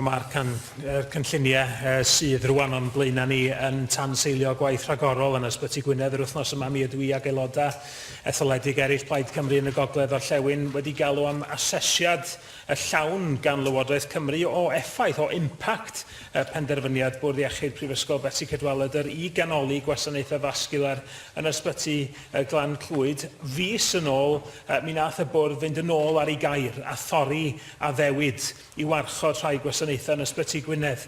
Mae'r can- er cynlluniau yy sydd rwan o'n blaenau ni yn tanseilio gwaith rhagorol yn Ysbyty Gwynedd yr wythnos yma. Mi ydw i ac aelodau etholedig eraill Plaid Cymru yn y Gogledd Orllewin wedi galw am asesiad y llawn gan Lywodraeth Cymru o effaith, o impact y penderfyniad Bwrdd Iechyd Prifysgol Betsi Cadwaladr i ganoli gwasanaethau fasgiwlar yn Ysbyty y Glan Clwyd. Fis yn ôl, yy, mi nath y Bwrdd fynd yn ôl ar ei gair a thorri addewid i warchod rhai gwasanaethau yn Ysbyty Gwynedd.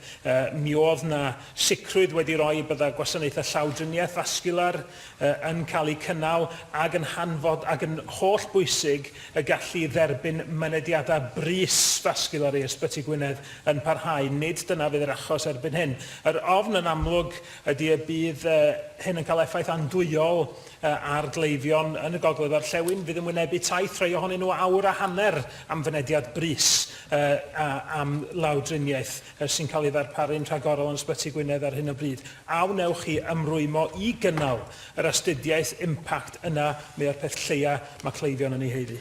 Mi oedd 'na sicrwydd wedi roi y bydda gwasanaethau llawdriniaeth fasgiwlar yn cael eu cynnal ac yn hanfod ac yn holl bwysig y gallu i dderbyn mynediadau brys fasgiwlar i Ysbyty Gwynedd yn parhau. Nid dyna fydd yr achos erbyn hyn. Yr ofn yn amlwg ydy y bydd hyn yn cael effaith andwyol ar gleifion yn y gogledd orllewin fydd yn wynebu taith rhai ohonyn nhw awr a hanner am fynediad brys a am lawdriniaeth sy'n cael ei ddarparu'n rhagorol yn Ysbyty Gwynedd ar hyn o bryd. A wnewch chi ymrwymo i gynnal yr astudiaeth impact yna mae o'r peth lleia mae cleifion yn ei haeddu.